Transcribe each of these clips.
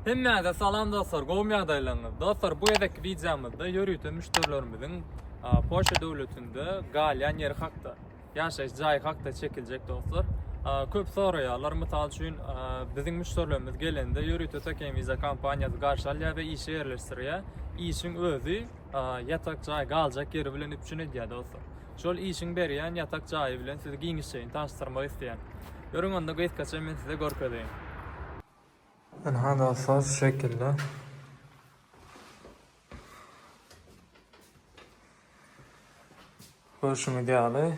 Hemmäňize salam dostlar, gowmy ýagdaýlaryňyz? Dostlar, bu gezekki wideomyzda ýörite müşderilerimiziň Polşa döwletinde galýan ýeri hakda, ýaşaýyş jaýy hakda çekiljek dostlar. Köp soraýarlar, mysal üçin, biziň müşderilerimiz gelende ýörite Tökeýin Visa kompaniýasy garşy alýar we işe ýerleşdirýär. Işiň özi ýatak jaý, galjak ýeri bilen üpjün edýär dostlar. Şol işiň berýän ýatak jaýy bilen sizi giňişjeýin tanyşdyrmak isleýän. Ýörüň onda gysgaça men size görkezeýin. Ynha dostlar şu şekilde. Görşüňiz ýaly.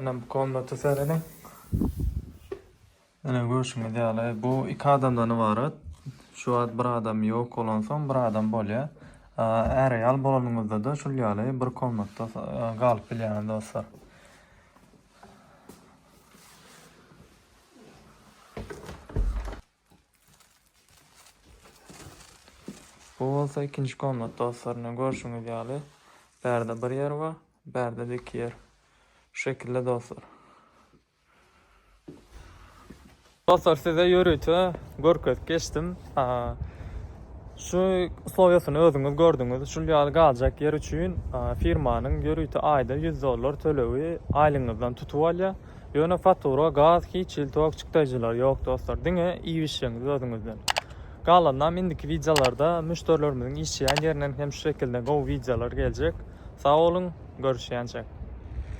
Ine bu komnata serediň. Ine görşüňiz ýaly bu iki adamdan ybarat. Şu wagt bir adam ýok bolansoň bir adam bolýar. Är-aýal bolanyňyzda-da şul ýaly bir komnatda galyp bilýäňiz dostlar. Bu bolsa ikinji komnat dostlar. Ine görşüňiz ýaly bärde bir ýer bar, bärde-de iki ýer. Şu şekilde dostlar. Dostlar size ýörite görkezip geçdim. Şu uslowiýasyny özüňiz gördüňiz. Şul ýaly galjak ýer üçin firmanyň ýörite aýda 100 dollar tölegi aýlygyňyzdan tutup alýar. Ýöne fatura, gaz hiç hili tok çykdaýjylary ýok dostlar. Diňe iýibişjegiňiz özüňizden. Galanynam indiki wideolarda müşderilerimiziň işjeýän ýerinden hem şu şekilde gowy wideolar geljek. Sag boluň, görüşýänçek.